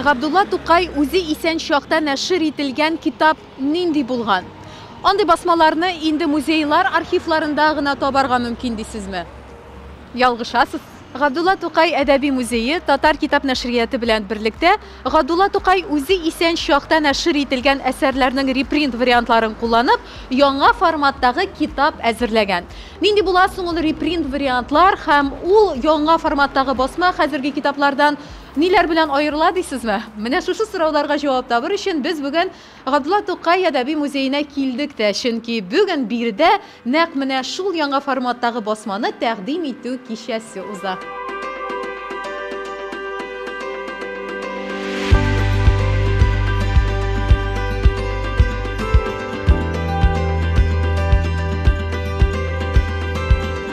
Габдулла Тукай үзе исән чакта нәшер ителгән китап нинди булган? Андый басмаларны инде музейлар архивларында гына табарга мөмкин дисезме? Ялгышасыз. Габдулла Тукай әдәби музее Татар китап нәшрияты белән берлектә Габдулла Тукай үзе исән чакта нәшер ителгән әсәрләрнең репринт вариантларын кулланып, яңа форматтагы китап әзерләгән. Нинди була соң ул репринт вариантлар һәм ул яңа форматтагы басма хәзерге китаплардан Ниләр белән аерыла дисезме? Менә шушы сорауларга җавап табыр өчен без бүген Габдулла Тукай әдәби музеена килдек тә, чөнки бүген биредә нәкъ менә шул яңа форматтагы басманы тәкъдим итү кичәсе уза.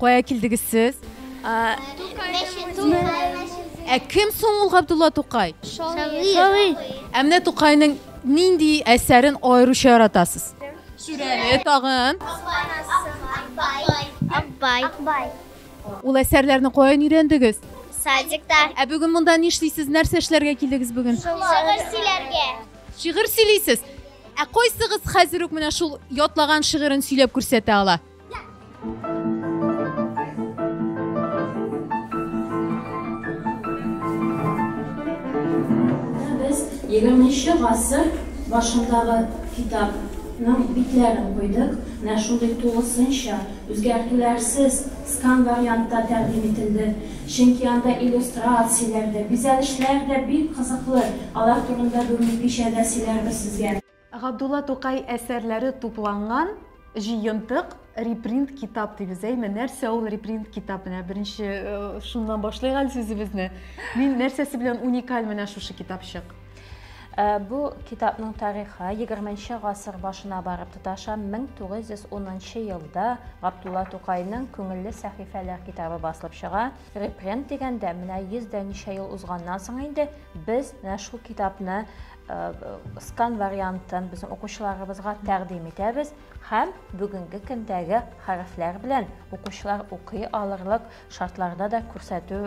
Кая килдегез сез? Ә кем соң ул Габдулла Тукай? Шагыйрь. Ә менә Тукайның нинди әсәрен аеруча яратасыз? Шүрәле тагын. Акбай. Акбай. Ул әсәрләрне каян өйрәндегез? Садикта. Ә бүген монда нишлисез? Нәрсә эшләргә килдегез бүген? Шигырь сөйләргә. Шигырь сөйлисез. Ә кайсыгыз хәзер үк менә шул ятлаган шигырен сөйләп күрсәтә ала? Егерменче гасыр башындагы китапның битләрен куйдык. Менә шундый тулысынча, үзгәртүләрсез скан вариантта тәкъдим ителде. Чөнки анда иллюстрацияләр дә, бизәлешләр дә бик кызыклы. Алар турында бүген кичәдә сөйләрбез сезгә. Габдулла Тукай әсәрләре тупланган җыентык репринт китап дибез, әйме? Нәрсә ул репринт китап? Менә беренче э, шуннан башлыйк әле сүзебезне. Мин нәрсәсе белән уникаль менә шушы китапчык? Э, бу китапның тарихы 20 гасыр башына барып тоташа. 1910 елда Габдулла Тукайның Күңелле сәхифәләр китабы басылып чыга. Репрент дигәндә, менә 100 дә ничә ел узганнан соң инде без менә шул китапны скан вариантын безнең укучыларыбызга тәкъдим итәбез һәм бүгенге көндәге хәрефләр белән укучылар укый алырлык шартларда да күрсәтү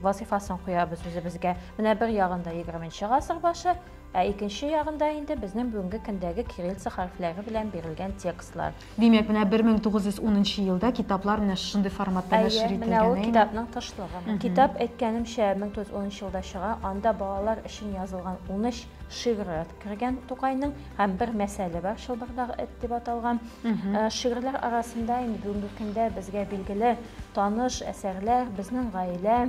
вазифасын куябыз үзебезгә. Менә бер ягында 20-нче гасыр башы, ә икенче ягында инде безнең бүгенге көндәге кириллица хәрефләре белән бирелгән текстлар. Димәк, менә 1910 нчы елда китаплар менә шушындый форматта нәшер ителгән, әйеме? Әйе, менә ул китапның тышлыгы. Китап, әйткәнемчә, 1910 нчы елда чыга. Анда балалар өчен язылган унөч шигыре кергән Тукайның һәм бер мәсәле бар, Чылбырдагы эт дип аталган. Шигырьләр арасында инде бүгенге көндә безгә билгеле, таныш әсәрләр, Безнең гаилә,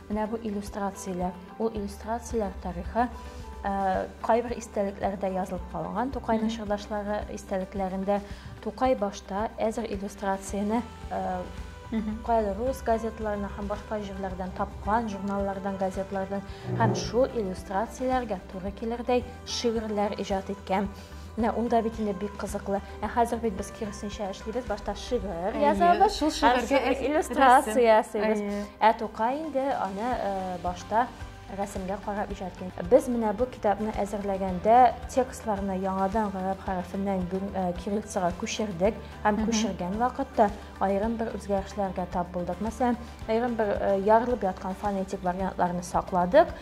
Менә бу иллюстрацияләр. Ул иллюстрацияләр тарихы кайбер истәлекләрдә язылып калган Тукай нәшрдашлары истәлекләрендә Тукай башта әзер иллюстрацияне кайбер рус газетларына һәм башка җирләрдән тапкан журналлардан газетлардан һәм шул иллюстрацияләргә туры килердәй шигырьләр иҗат иткән Менә ул да бит инде бик кызыклы. Ә хәзер бит без киресенчә эшлибез. Башта шигырь язабыз, шул шигырьгә иллюстрация ясыйбыз. Ә Тукай инде аны э, башта рәсемгә карап иҗат итә. Без менә бу китапны әзерләгәндә текстларны яңадан гарәп хәрефеннән э, кириллицага күчердек һәм күчергән вакытта аерым бер үзгәрешләргә тап булдык. Мәсәлән, аерым бер э, ярылып яткан фонетик вариантларны сакладык,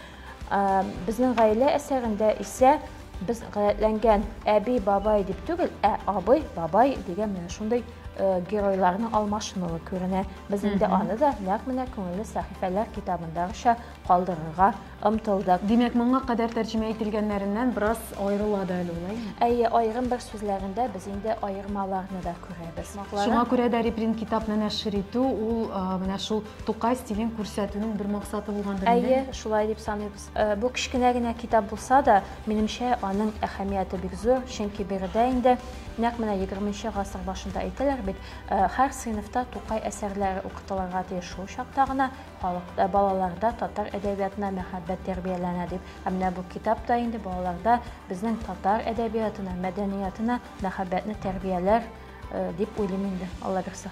Безнең гаилә әсәрендә исә без гадәтләнгән әби, бабай дип түгел, ә абый, бабай дигән менә шундый э, геройларның алмашынуы күренә. Без инде аны да нәкъ менә күңелле сәхифәләр китабындагыча калдырырга омтылдык. Димәк, моңа кадәр тәрҗемә ителгәннәреннән бераз аерыла да әле улай. Әйе, аерым бер сүзләрендә без инде аермаларны да күрәбез. Шуңа күрә дә репринт китапны нәшер итү ул э, менә шул Тукай стилен күрсәтүнең бер максаты булгандыр инде. Әйе, шулай дип саныйбыз. Э, бу кечкенә генә китап булса да, минемчә, аның әһәмияте бик зур, чөнки биредә инде нәкъ менә 20 гасыр башында әйтәләр бит, э, һәр сыйныфта Тукай әсәрләре укытылырга тиеш. Шул чакта гына халыкта, балаларда татар әдәбиятына мәхәббәт тәрбияләнә дип. Ә менә бу китап та инде балаларда безнең татар әдәбиятына, мәдәниятына мәхәббәтне тәрбияләр э, дип уйлыйм инде, Аллабирса.